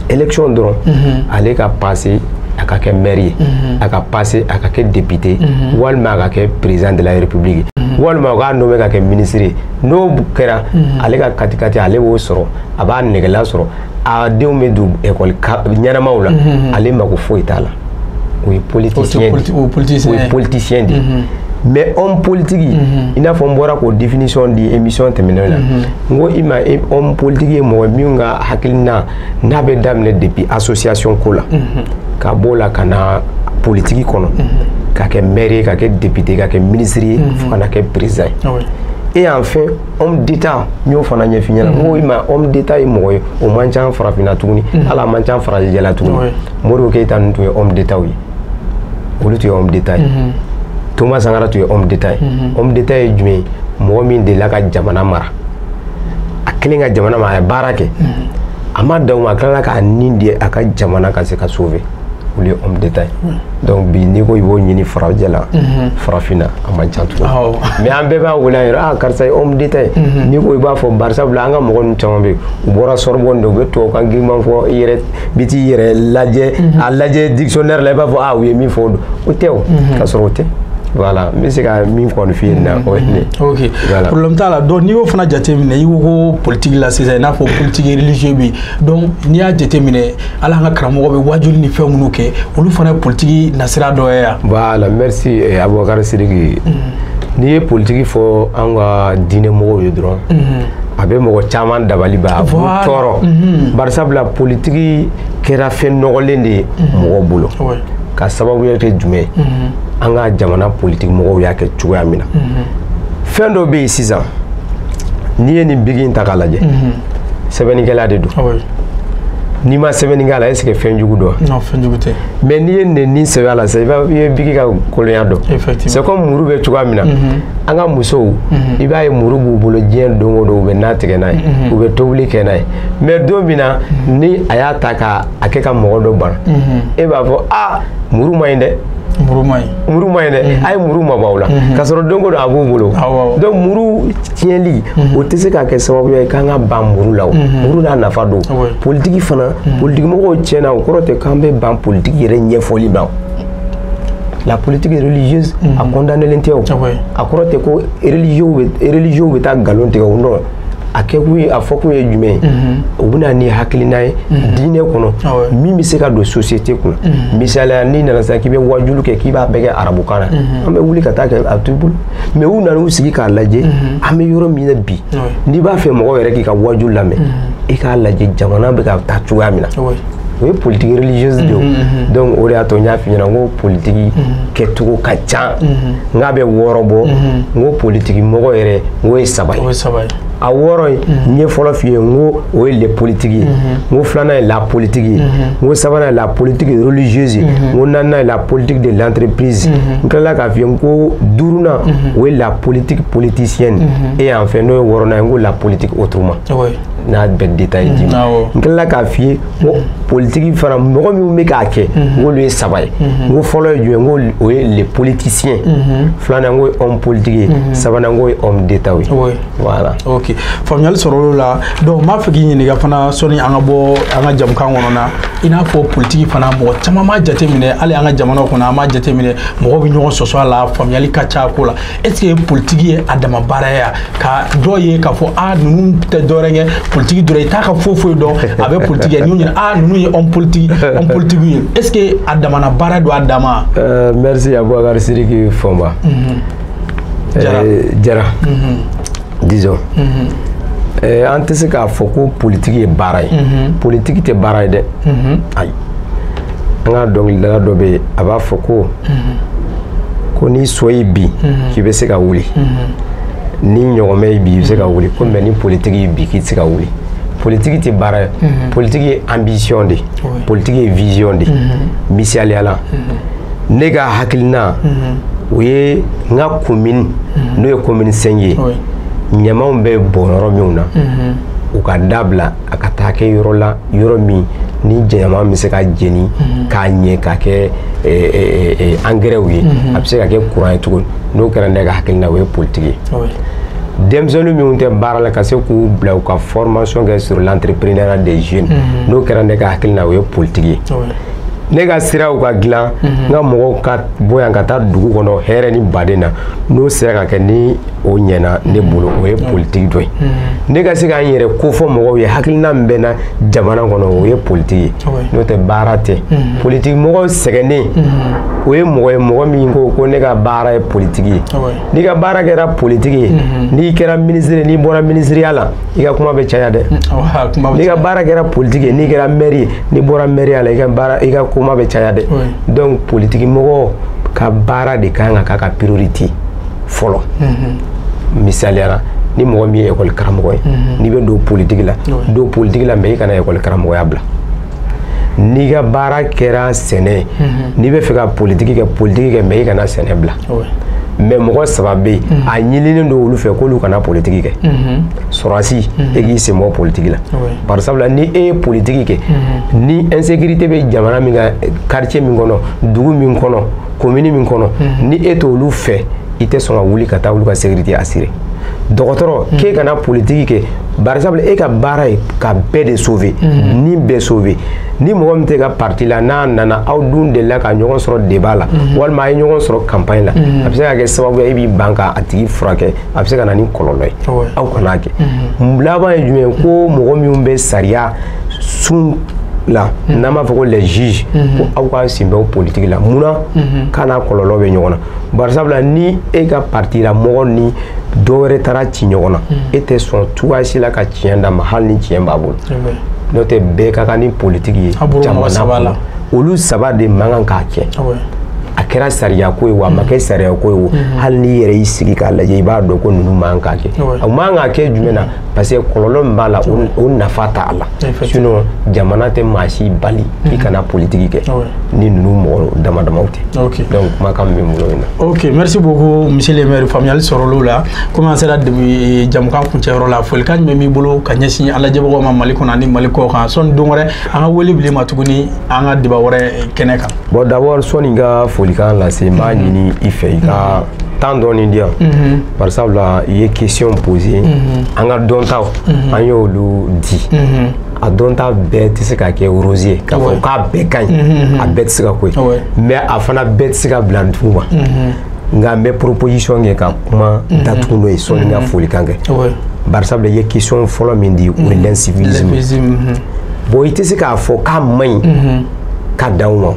élection dɔrɔn mm-hmm. ale ka passer a ka kɛ maire ye a ka passer a ka kɛ député walima a ka kɛ président de la république walima u k'a nommer ka kɛ ministre ye n'o kɛra ale ka katikati ale b'o sɔrɔ a b'a negela sɔrɔ a denw bɛ don ekɔli ɲɛnamaw la ale mako foyi t'a la o ye politisiyɛn de mais homme politique i n'a fɔ n bɔra k'o définition di émission tɛmɛnenw na n ko i ma homme politique ye mɔgɔ min ka hakilina n'a bɛ daminɛ depuis association ko la ka b'o la ka na politique kɔnɔ ka kɛ mɛri ye ka kɛ depite ka kɛ minisiri ye fo ka na kɛ président ye et enfin homme d'état n y'o fana ɲɛf'i ɲɛna n ko i ma homme d'état ye mɔgɔ ye o man ca farafinna tuguni hali a man ca farajɛla tuguni modibo keyita ninnu tun ye homme d'état ye olu tun ye homme d'état ye thomas sankara tun ye homme d'état ye homme d'état ye jumɛn ye mɔgɔ min delila ka jamana mara a kɛlen ka jamana mara a ye baara kɛ a ma dan o ma a tilala k'a ni di a ka jamana ka se ka sauver olu ye homme d'état ye hmm. donc bi n'i ko i b'o ɲini farajɛla hmm. farafinna a man ca tugun mais an bɛɛ b'a wele an yɛrɛ ah karisa ye homme d'état ye hmm. n'i ko i b'a fɔ barisa bila an ka mɔgɔ ninnu caman bɛ yen u bɔra sorbonne de u bɛ tubabukan giriman fɔ i yɛrɛ bi t'i yɛrɛ lajɛ a lajɛ dictionnaire la i b'a fɔ ah u ye min fɔ o don o tɛ o k'a sɔrɔ o tɛ voilà n bɛ se ka min kɔni f'i ye nin na o ye nin ye. ok problème t'a la donc n'i y'o fana jateminɛ i ko ko politique la sisan i n'a fɔ politique religieux bɛ yen donc n'i y'a jateminɛ hali an ka karamɔgɔw bɛ waajuli ni fɛn minnu kɛ olu fana ye politiki nasira dɔ ye yan voilà merci eh, abubakar sidiki mm. n'i ye politiki fɔ an ka diinɛ mɔgɔw ye dɔrɔn mm -hmm. a bɛ mɔgɔ caman dabali ban a b'u tɔɔrɔ mm -hmm. barisabula politiki kɛra fɛn nɔgɔlen de ye mm -hmm. mɔgɔw bolo ouais. ka sababuya kɛ jumɛn mm -hmm. an ka jamana politiki mɔgɔw y'a kɛ cogoya min na mm -hmm. fɛn dɔ bɛ yen sisan n'i ye nin biki in ta k'a lajɛ mm -hmm. sɛbɛnnikɛlan de don ah n'i ma sɛbɛnni kɛ a la est-ce que fɛn jugu don non fɛn jugu tɛ mais n'i ye nɛni sɛbɛn a la sisan i b'a i ye biki ka kolonya dɔn c'est comme muru bɛ cogoya min na mhm. an ka musow mhm. i b'a ye muru b'u bolo diɲɛ don o don u bɛ na tigɛ n'a ye mhm. u bɛ tobili kɛ n'a ye mais don min na ni a y'a ta k'a a kɛ ka mɔgɔ dɔ bana e b'a fɔ aa muru man ɲi dɛ muru man ɲi muru man ɲi dɛ a ye muru mabɔ aw la k'a sɔrɔ don o don a b'u bolo donc muru tiɲɛli mhm. o tɛ se ka kɛ sababuya ye k'an ka ban muru la o mhm. muru n'a nafa don ah politiki fana mhm. politikimɔgɔw tiɲɛna o kɔrɔ tɛ k'an bɛ ban politiki yɛrɛ ɲɛfɔli ma la politique religieuse a condamnelen tɛ o ah a kɔrɔ tɛ ko religieux bɛ taa nkalon tigɛ o non a kɛkun ye a fɔkun ye jumɛn ye o bɛ na ni hakilina ye diinɛ kɔnɔ ah min bɛ se ka don société kɔnɔ misaliya n'i nana sisan k'i bɛ wajulu kɛ k'i b'a bɛɛ kɛ arabukan na an bɛ wuli ka taa kɛ a t'u bolo mais u nana u sigi k'a lajɛ mhm. an bɛ yɔrɔ min na bi n'i b'a fɛ mɔgɔ yɛrɛ k'i ka waju lamɛn mhm. i k'a lajɛ jamana bɛ ka taa cogoya min na o ye politiki religieuse de ye mhm, donc o de y'a to n y'a f'i ɲɛna n ko politiki kɛcogo ka ca n k'a bɛ wɔɔrɔ bɔ n ko politiki mɔgɔ yɛrɛ n k'o ye saba ye a wɔɔrɔ ye n ye fɔlɔ f'i ye n ko o ye le politique ye n ko filanan ye la politique ye n ko sabanan ye la politique religieuse ye n ko naaninan ye la politique de l'entreprise n tilala k'a f'i ye n ko duurunan o ye la politique politicienne et enfin n'o ye wɔɔrɔnan ye n ko la politique autrement n'a bɛɛ détail d'i ma n tilala k'a f'i ye politiki fana mɔgɔ minnu bɛ k'a kɛ n k'olu ye saba ye n ko fɔlɔ ye jumɛn n ko o ye le politicien filanan n k'o ye homme politique ye sabanan n k'o ye homme d'état ye voilà ok faamuyali sɔrɔla olu la donc n b'a fɛ k'i ɲininka fana sɔni an ka bɔ an ka jamukan kɔnɔ na i n'a fɔ politiki fana mɔgɔ caman m'a jateminɛ hali an ka jamanaw kɔnɔ an m'a jateminɛ mɔgɔw bɛ ɲɔgɔn sɔsɔ a la faamuyali ka ca a ko la est-ce que politiki ye a dama baara ye ka dɔ ye k'a fɔ ah ninnu tɛ dɔwɛrɛ kɛ politiki dɔrɔn i t'a ka foyi foyi dɔn a bɛ politiki kɛ n'u ɲɛna ah ninnu ye homme politique homme politique ye est-ce que a damana baara don a dama. Euh, merci abubakar siriki fɔnba. Mhm. jara euh, jara mhm. disons. Mhm. Euh, an tɛ se k'a fɔ ko politiki ye baara ye politiki tɛ baara ye dɛ ayi. an ka dɔnkilidala dɔ bɛ yen a b'a fɔ ko ko ni so y'i bin k'i bɛ se ka wuli ni ɲɔgɔmɛ y'i bin i bɛ se ka wuli ko mais ni politiki y'i bin k'i tɛ se ka wuli politiki tɛ baara ye politiki ye ambition de politiki ye vision de misaliya la ne ka hakilina o ye n ka komini n'o ye komini cinq ye ɲamanw bɛ bɔn yɔrɔ minnu na u ka dabila a ka taa kɛ yɔrɔ la yɔrɔ min ni ɲaman bɛ se ka jeni mhm. k'a ɲɛ k'a kɛ eh, eh, eh, angɛrɛw ye mhm. a bɛ se ka kɛ kuran ye tugun n'o kɛra ne ka hakilina o ye politiki ye denmisɛnninw minnu tɛ baara la ka se k'u bila u ka formation kɛ sur l'entrepreneuriat des jeunes mhm. n'o kɛra ne ka hakilina o ye politiki ye ne ka siraw ka dilan n ka mɔgɔw ka bɔ yan ka taa dugu kɔnɔ hɛrɛ ni baden na n'o sera ka kɛ ni o ɲɛna ne bolo o ye politiki dɔ ye ne ka se ka n yɛrɛ kofɔ mɔgɔw ye hakilina min bɛ n na jamana kɔnɔ o ye politiki ye n'o tɛ baara tɛ politiki mɔgɔw sɛgɛnnen o ye mɔgɔ ye mɔgɔ min ko ko ne ka baara ye politiki ye n'i ka baara kɛra politiki ye n'i kɛra minisiri n'i bɔra minisiriya la i ka kuma bɛ caya dɛ n'i ka baara kɛra politiki ye n'i kɛra mɛri ye n'i bɔra mɛriya la i ka baara i ka kuma bɛ caya dɛ donc politiki mɔgɔ ka baara de kan ka k'a ka priorité fɔlɔ misaliya la ni mɔgɔ min ye ekɔli karamɔgɔ ye n'i bɛ don politiki la don politiki la mais i kana ekɔli karamɔgɔya bila n'i ka baara kɛra sɛnɛ n'i bɛ fɛ ka politiki kɛ politiki kɛ mais i kana sɛnɛ bila mais mɔgɔ saba bɛ yen mhm. a ɲininen don olu fɛ k'olu kana politiki kɛ mhm. sɔrɔdasi mhm. e k'i sen bɔ politiki la bari sabula ni e ye politiki kɛ ni insécurité bɛ jamana min kan quartier min kɔnɔ dugu min kɔnɔ komini min kɔnɔ mhm. ni e t'olu fɛ i tɛ sɔn ka wuli ka taa olu ka sécurité assurer dɔgɔtɔrɔ mhm. k'e kana politiki kɛ par exemple e ka baara ye ka bɛɛ de sauver mhm. ni bɛɛ sauver ni mɔgɔ min t'e ka parti la n'a nana aw dun delila ka ɲɔgɔn sɔrɔ débat la walima a ye ɲɔgɔn sɔrɔ campagne la a bɛ se ka kɛ sababu ye e b'i ban ka a tigi furakɛ a bɛ se ka na ni kɔlɔlɔ ye aw kana kɛ laban ye jumɛn ye ko mɔgɔ minnu bɛ sariya sun la mhm. n'an b'a fɔ ko les juges mhm. ko aw k'aw sen bɔ politiki la mun na mhm. k'a n'a kɔlɔlɔ bɛ ɲɔgɔn na bari sabula ni e ka parti la mɔgɔ ni dɔ wɛrɛ taara ci ɲɔgɔn na e tɛ sɔn cogoya si la ka tiɲɛ d'a ma hali ni tiɲɛ b'a bolo n'o tɛ bɛɛ ka kan ni politiki ye jamana kɔnɔ olu saba de man kan k'a kɛ ah a kɛra sariya ko ye wa a ma kɛ sariya ko ye o hali n'i yɛrɛ y'i sigi k'a lajɛ i b'a dɔn ko ninnu man kan k'a kɛ a man kan k'a kɛ jumɛn na parce que kɔlɔlɔ min b'a la o nafa t'a la sinon jamana tɛ maa si bali k'i mhm. kana politiki kɛ ah ni ninnu mɔgɔ dama damaw tɛ donc kumakan min bɛ bolo in na. ok merci beaucoup monsieur le maire faamuyali sɔrɔl'o la komi an sera eh, jamukan kuncɛyɔrɔ la folikan min b'i bolo ka ɲɛsin an lajɛbagaw ma mali kɔnɔ ani mali kɔ kan sɔnni don wɛrɛ an ka wele bil'i ma tuguni an ka débat wɛrɛ eh, kɛnɛ kan. bon d'abord sɔnni n ka folikan lase n b'a mhm. ɲini i fɛ i ka. Mhm. temps dɔɔni di yan mhm. bari sabula i ye question posé mhm. an ka dɔntaw mhm. an y'olu di a dɔnta bɛɛ tɛ se ka kɛ rose ye k'a fɔ k'a bɛɛ ka ɲi a bɛɛ tɛ se ka ko ye mais a fana bɛɛ tɛ se ka bila dugu ma nka n bɛ proposition kɛ ka kuma datugu n'o ye sɔnni n ka folikan kɛ bari sabula i ye question fɔlɔ min di o ye l'incivilisme bon i tɛ se k'a fɔ k'a man ɲi ka dan o ma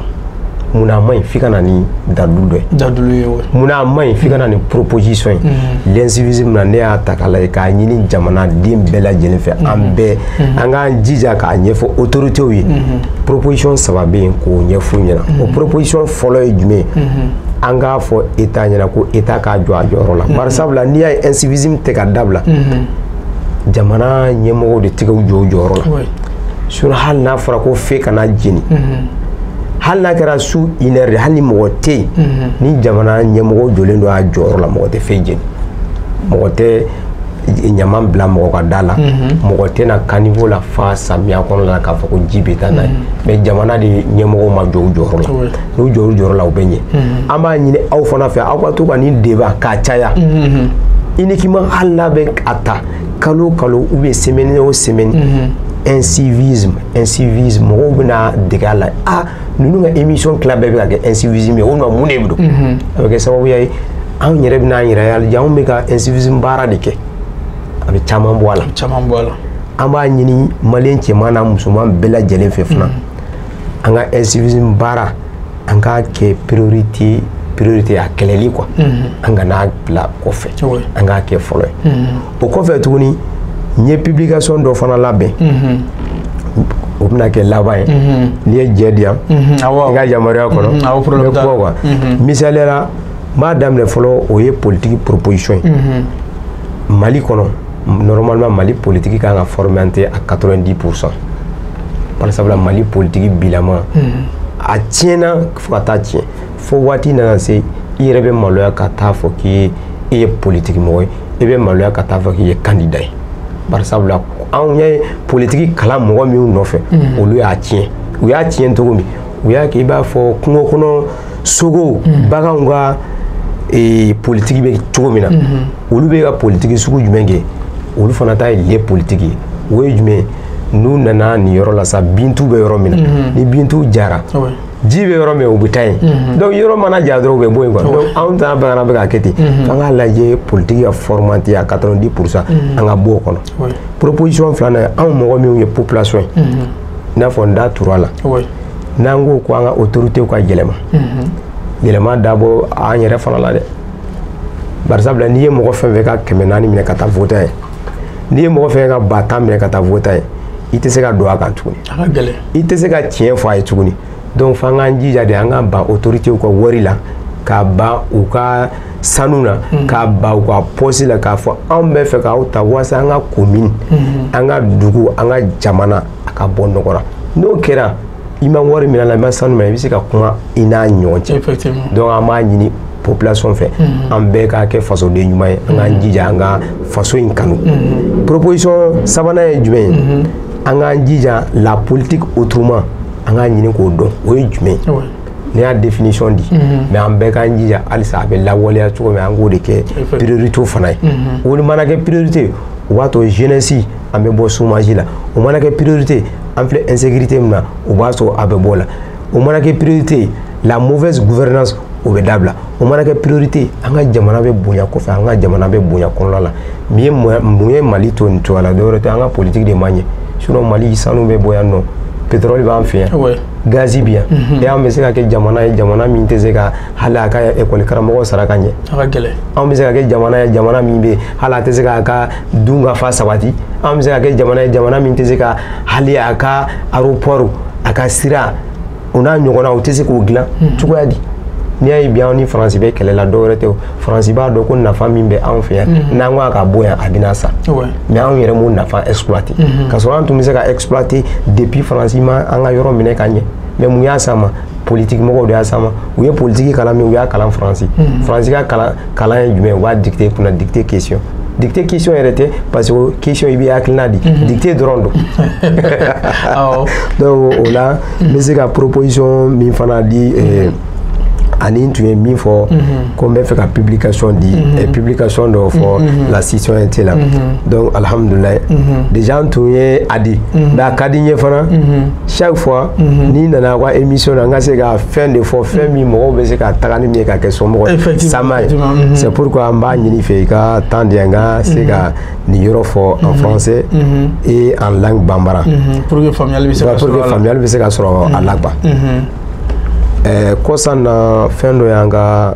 munna a man ɲi f'i ka na ni dalilu dɔ ye dalilu ye wa munna a man ɲi f'i ka na ni proposition ye mm-hmm. l'incivisme na ne y'a ta k'a lajɛ k'a ɲini jamanaden bɛɛ lajɛlen fɛ an mm-hmm. bɛɛ mm-hmm. an k'an jija k'a ɲɛfɔ autorités ye proposition saba bɛ yen k'o ɲɛf'u ɲɛna o proposition fɔlɔ ye jumɛn ye an k'a fɔ état ɲɛna ko état k'a jɔ a jɔyɔrɔ la bari sabula n'i y'a ye incivisme tɛ ka dabila jamana ɲɛmɔgɔw de tɛ k'u jɔ u jɔyɔrɔ la sur hali n'a fɔra ko feu kana jeni hali n'a kɛra su une heure de hali ni mɔgɔ tɛ yen ni jamana ɲɛmɔgɔ jɔlen don a jɔyɔrɔ la mɔgɔ tɛ feu jeni mɔgɔ tɛ ɲama bila mɔgɔ ka da la mɔgɔ tɛna caniveau lafa samiya kɔnɔ la k'a fɔ ko ji bɛ taa n'a ye mais jamana de ɲɛmɔgɔ ma jɔ u jɔyɔrɔ la n'u jɔ u jɔyɔrɔ la u bɛ ɲɛ an b'a ɲini aw fana fɛ aw ka to ka nin débat k'a caya uniquement hali n'a bɛ a ta kalo kalo ou bien semaine o semaine mm -hmm. incivisme incivisme mɔgɔw bɛna dege a la ah ninnu ka émission tila bɛɛ bɛ ka kɛ incivisme ye o nɔ mun de bɛ don a bɛ kɛ sababuya ye anw yɛrɛ bɛna an yɛrɛ ye jaa anw bɛ ka incivisme baara de kɛ a bɛ caman bɔ a la caman bɔ a la an b'a ɲini maliyɛn cɛman n'a musoman bɛɛ lajɛlen fɛ fana an ka incivisme baara an k'a kɛ priorité priorité a kɛlɛli quoi mhm. an kan'a bila kɔfɛ an k'a kɛ fɔlɔ ye mhm. o kɔfɛ tuguni n ye publication dɔ fana labɛn mhm. o bɛna kɛ laban ye n'i ye jɛ di yan i ka yamaruya kɔnɔ n bɛ kuma quoi misaliya la n b'a daminɛ fɔlɔ o ye politique proposition ye mali kɔnɔ normalement mali politiki kan ka formaté à 90 pourcent bari sabula mali politiki bilama hmm. a tiɲɛna fo ka taa tiɲɛ fo waati nana se i yɛrɛ bɛ maloya ka taa fɔ k'i ye politiki mɔgɔ ye i bɛ maloya ka taa fɔ k'i ye kandida ye bari sabula anw ye politiki kalan mɔgɔ minnu nɔfɛ hmm. olu y'a tiɲɛ u y'a tiɲɛ cogo min u y'a kɛ i b'a fɔ kungo kɔnɔ sogow hmm. baganw ka politiki bɛ cogo min na olu bɛ ka politiki sugu jumɛn kɛ olu fana ta ye le politique ye o ye jumɛn n'u nana nin yɔrɔ la sa bintu bɛ yɔrɔ min na mhm. ni bintu jara ji bɛ yɔrɔ min u bɛ taa yen mhm. donc yɔrɔ mana ja dɔrɔn u bɛ bɔ yen quoi donc anw ta bana bɛ ka kɛ ten mhm. f'an k'a lajɛ politiki ka formanti a 90 pour cent an ka bɔ o kɔnɔ proposition filanan anw mɔgɔ minnu ye population ye i n'a fɔ n da tur'a la n'an ko ko an ka autorités ka yɛlɛma yɛlɛma dabɔ an yɛrɛ fana la dɛ bari sabula n'i ye mɔgɔ fɛn fɛn ka kɛmɛ naani minɛ ka taa vot'a ye n'i ye mɔgɔ fɛn ka ba tan minɛ ka taa vot'a ye i tɛ se ka don a kan tuguni i tɛ se ka tiɲɛ fɔ a ye tuguni donc f'an k'an jija de an ka ban autoritéw ka wari la ka ban u ka sanu na hmm. ka ban u ka poste la k'a fɔ anw bɛ fɛ k'aw ta walasa an ka komini hmm. an ka dugu an ka jamana a ka bɔ nɔgɔ la n'o kɛra i ma wari minɛ a la i ma sanu minɛ i bɛ se ka kuma i n'a ɲɔgɔn cɛ donc an b'a ɲini population fɛ mhm. an bɛɛ ka kɛ fasoden ɲuman ye an k'an mhm. jija an ka faso in kanu mhm. proposition sabanan ye jumɛn ye an k'an jija la politique autrement an k'a ɲini k'o dɔn o ye jumɛn ye ne y'a définition di mais an bɛɛ k'an jija halisa a bɛ lawaleya cogo min an k'o de kɛ priorité fana ye o mana kɛ priorité o b'a to jeunesse an bɛ bɔ chômage la o mana kɛ priorité an filɛ insécurité min na o b'a sɔrɔ an bɛ bɔ a la o mana kɛ priorité la mauvaise gouvernance o bɛ dabila o mana kɛ priorité an ka jamana bɛ bonya kɔfɛ an ka jamana bɛ bonya kɔnɔna la mun ye mun ye mali to nin cogoya la dɔwɛrɛ tɛ an ka politique de man ɲɛ sinon mali sanu bɛ bɔ yan non pétrole b'an fɛ yan gazi bɛ yan mhm. et an bɛ se ka kɛ jamana ye jamana min tɛ se ka hali a ka ekɔli karamɔgɔ sara ka ɲɛ anw bɛ se ka kɛ jamana ye jamana min bɛ hali a tɛ se k'a ka dunkafa sabati an bɛ se ka kɛ jamana ye jamana min tɛ se ka hali a ka aéroport a ka sira o n'a ɲɔgɔnna o tɛ se k'o dilan hmm. cogoya di n'i y'a ye bi anw ni faransi bɛ kɛlɛ la dɔwɛrɛ tɛ o faransi b'a dɔn ko nafa min bɛ anw fɛ yan hmm. n'an ko a ka bɔ yan a bɛna sa mais anw yɛrɛ m'o nafa exploiter hmm. ka sɔrɔ an tun bɛ se ka exploiter depuis faransi ma an ka yɔrɔ minɛ ka ɲɛ mais mun y'a s'a ma politiki mɔgɔw de y'a s'a ma u ye politiki kalan min u y'a kalan faransi hmm. faransi ka kalan kalan ye jumɛn u b'a dicter kunna dictée question dictée question yɛrɛ tɛ parce que question i bɛ hakilina di hmm. dictée dɔrɔn don donc o la n bɛ se ka proposition min fana di eh, ani n tun ye min fɔ ko n bɛ fɛ ka publication di eh, publication dɔ fɔ la citoyenneté la donc alhamdulilayi déjà n tun ye a di mais a ka di n ye fana chaque fois mhm. ni n nana i ka émission na n ka se ka fɛn de fɔ fɛn min mɔgɔw bɛ se ka taga ni min ye ka kɛ somɔgɔ sama ye mhm. c'est pourquoi n b'a ɲini i fɛ i ka temps di yan n ka se ka mhm. nin yɔrɔ fɔ en français et en langue bambara pour que faamuyali bɛ se ka sɔrɔ a la quoi kɔsan na fɛn dɔ y'an ka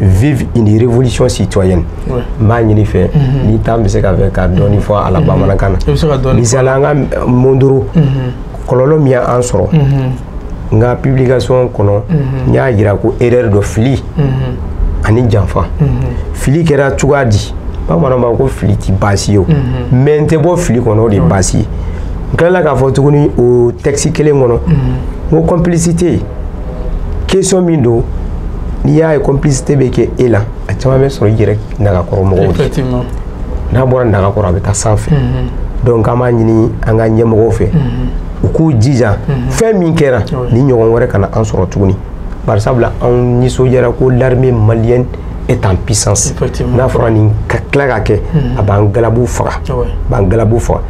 vive une révolution citoyenne n b'a ɲini i fɛ n'i tun bɛ se ka fɛn ka dɔɔni fɔ a la bamanankan na misali an ka mondoro kɔlɔlɔ min y'an sɔrɔ n ka publication kɔnɔ n y'a yira ko erreur dɔ fili ani janfa fili kɛra cogoya di bamananw b'a ko fili ti baasi ye o mais n tɛ bɔ fili kɔnɔ o de ye baasi ye n tilala k'a fɔ tuguni o texte kelen kɔnɔ n ko complicité question min don n'i y'a ye complicité bɛ kɛ e la a caman bɛ sɔrɔ i yɛrɛ nagakɔrɔ mɔgɔw de n'a bɔra nagakɔrɔ a bɛ taa sanfɛ mm-hmm. donc an b'a ɲini an ka ɲɛmɔgɔw fɛ mm-hmm. u k'u jija mm-hmm. fɛn min kɛra nin ɲɔgɔn wɛrɛ kana an sɔrɔ tuguni bari sabula anw nisɔndiyara ko l'armée malienne est en puissance n'a fɔra nin ka tila ka kɛ a b'an galabu faga a b'an galabu faga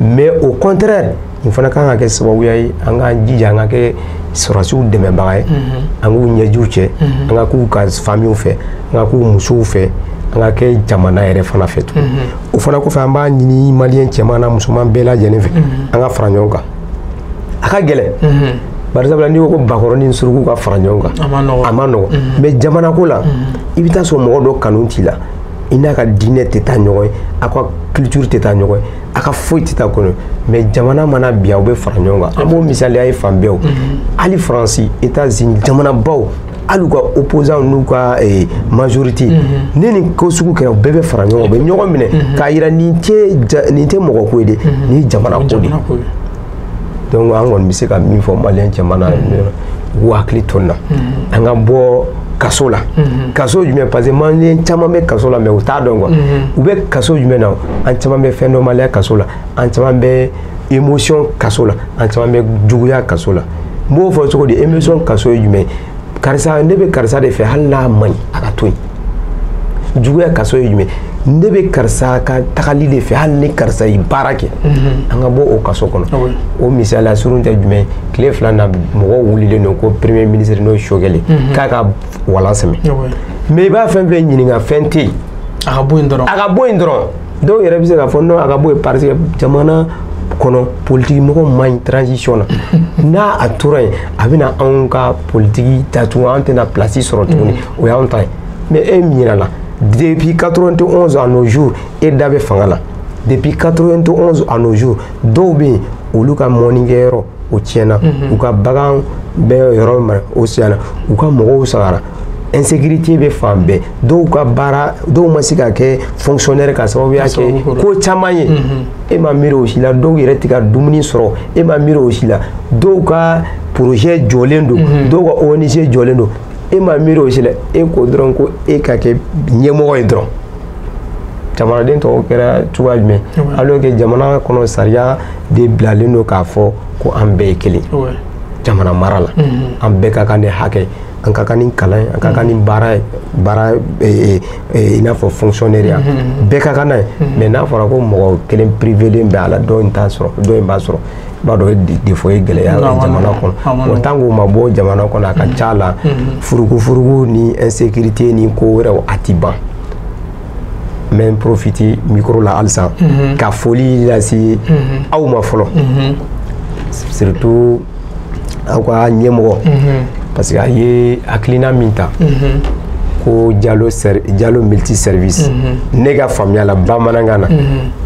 mais au contraire nin fana kan ka kɛ sababuya ye an k'an jija an ka kɛ sɔrɔdasiw dɛmɛbaga ye mhm. an k'u ɲɛjiw cɛ mhm. an ka k'u ka familles fɛ an ka k'u musow fɛ an ka kɛ jamana yɛrɛ fana fɛ tuguni mhm. o fana kɔfɛ an b'a ɲini maliyɛn cɛman n'a musoman bɛɛ lajɛlen fɛ an ka fara ɲɔgɔn kan a ka gɛlɛn barisabula n'i ko ko bakɔrɔ ni suruku ka fara ɲɔgɔn kan a ma nɔgɔ mais jamanako la i bɛ taa sɔrɔ mɔgɔ dɔ kanu t'i la i n'a ka diinɛ tɛ taa ɲɔgɔn ye aw ka culture tɛ taa ɲɔgɔn ye a ka foyi tɛ taa kɔnɔ mais jamana mana bin aw bɛ fara ɲɔgɔn kan an b'o misaliya ye fan bɛɛw mhm. hali faransi etazini jamanabaw hali u ka opposant n'u ka eh, majorité mhm. ni nin ko sugu kɛra u bɛɛ bɛ fara ɲɔgɔn kan u bɛ ɲɔgɔn minɛ mhm. k'a yira nin tɛ nin tɛ mɔgɔ ko ye dɛ nin ye jamana ko de ye donc an kɔni bɛ se ka min fɔ maliyɛn cɛman na u k'u hakili to nin na an ka bɔ kaso la mhm. kaso jumɛn parce que maliyɛn caman bɛ kaso la mais u t'a dɔn quoi mhm. u bɛ kaso jumɛn na an caman bɛ fɛn dɔnbaliya kaso la an caman bɛ émotion kaso la an caman bɛ juguya kaso la n b'o fɔ cogo di émotion kaso ye jumɛn ye karisa ne bɛ karisa de fɛ hali n'a man ɲi a ka to yen juguya kaso ye jumɛn ne bɛ karisa ka tagali de fɛ hali ni karisa ye baara kɛ mhm. an ka bɔ o kaso kɔnɔ ah o misaliya surun tɛ jumɛn tile fila na mɔgɔw wulilen don ko premier ministre n'o ye choguel mhm. k'a ka walan sɛmɛ ah mais i b'a fɛn fɛn ɲininka fɛn tɛ yen a ka bɔ yen dɔrɔn a ka bɔ yen dɔrɔn dɔw yɛrɛ bɛ se k'a fɔ non a ka bɔ yen parce que jamana kɔnɔ politiki mɔgɔ man ɲi transition na n'a tora yen a bɛna anw ka politiki datugu an tɛna place sɔrɔ tuguni mm. o y'anw ta ye mais e ɲinɛla depuis 91 à nos jours e da bɛ fanga la depuis 91 à nos jours dɔw bɛ yen olu ka mɔnikɛyɔrɔ o tiɲɛna u ka bagan bɛ yɔrɔ min o tiɲɛna u ka mɔgɔw fagara insécurité bɛ fan bɛɛ dɔw ka baara dɔw ma se ka kɛ fonctionnaire ka sababuya kɛ ko caman ye e ma miiri o si la dɔw yɛrɛ tɛ ka dumuni sɔrɔ e ma miiri o si la dɔw ka projet jɔlen don dɔw ka ONG jɔlen don e ma miiri o si la e ko dɔrɔn ko e ka kɛ ɲɛmɔgɔ ye dɔrɔn jamanaden tɔw kɛra cogoya jumɛn alors que jamana kɔnɔ sariya de bilalen don k'a fɔ ko an bɛɛ ye kelen jamana mara la mm-hmm. an bɛɛ ka kan ni hakɛ an ka kan ni kalan ye an ka kan ni mm-hmm. baara ye baara eh, eh, eh, i n'a fɔ fonctionnaire ya mm-hmm. bɛɛ ka kan n'a ye mais n'a fɔra ko mɔgɔ kelen privélen bɛ a la dɔ in t'a sɔrɔ dɔ in b'a sɔrɔ b'a dɔn défaut ye gɛlɛya jamana kɔnɔ o tant qu'o ma bɔ jamana kɔnɔ a ka ca la furukufuruku ni insécurité ni ko wɛrɛw a ti ban n bɛ n profiter micro la halisa ka foli lase aw ma fɔlɔ surtout aw ka ɲɛmɔgɔ parce que a ye hakilina min ta ko jalo jalo multi service ne ka faamuya la bamanankan na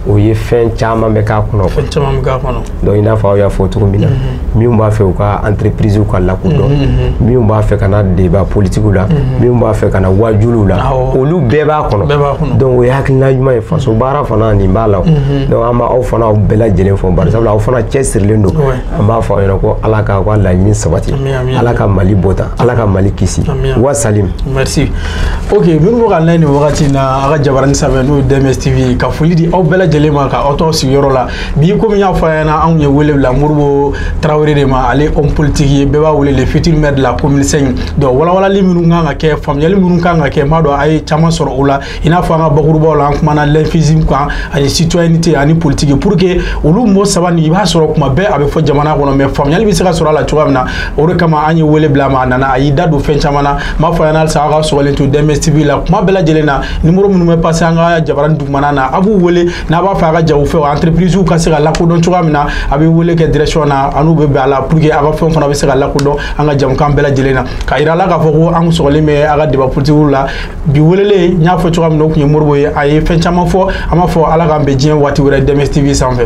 o ye fɛn caman bɛ k'a kɔnɔ fɛn caman bɛ k'a kɔnɔ donc i n'a fɔ aw y'a fɔ cogo min na minnu b'a fɛ u ka entreprise ka lakodɔn minnu b'a fɛ ka na débat politique la minnu b'a fɛ ka na waajuliw la olu bɛɛ b'a kɔnɔ donc o ye hakilina ɲuman ye faso baara fana nin b'a la donc an b'aw fana aw bɛɛ lajɛlen fo barisabula aw fana cɛsirilen don an b'a fɔ a ɲɛna ko ala k'a ka laɲini sabati ala ka mali bɔta ala ka mali kisi wa salam merci ok minnu bɛ k'an lajɛ nin wagati in na a ka jabarani sanfɛ n'o ye dms tv ka foli di aw bɛɛ lajɛlen ma ka aw to sigiyɔrɔ la bi komi n y'a fɔ a ɲɛna anw ye wele bila modibo tarawele de ma ale homme politique ye bɛɛ b'a wele le futur maire de la commune 5 donc walawalali minnu kan ka kɛ faamuyali minnu kan ka kɛ n b'a dɔn a ye caman sɔrɔ o la i n'a fɔ an ka bakurubaw la an kumana l'incivisme kan ani citoyenneté ani politique pour que olu mot saba nin i b'a sɔrɔ kuma bɛɛ a bɛ fɔ jamana kɔnɔ mais faamuyali bɛ se ka sɔrɔ a la cogoya min na o de kama an ye wele bila a ma a nana a y'i da don fɛn caman na n b'a fɔ a ɲɛna halisa aw ka sɔgɔlen to dms tv la kuma bɛɛ lajɛlen na nimoro minnu bɛ passer an ka jabarani dugumana na a b'u wele n'a b'a fɛ a ka jagofɛn wa entreprise ka se ka lakodɔn cogoya min na a bɛ wele kɛ direction na an n'u bɛ bɛn a la pour que a ka fɛnw fana bɛ se ka lakodɔn an ka jɛmukan bɛɛ lajɛlen na k'a yira a la k'a fɔ ko an sɔgɔlen bɛ a ka débat politique la bi welelen n y'a fɔ cogoya min na o tun ye modibo ye a ye fɛn caman fɔ an b'a fɔ ala k'an bɛn diɲɛ waati wɛrɛ dms tv sanfɛ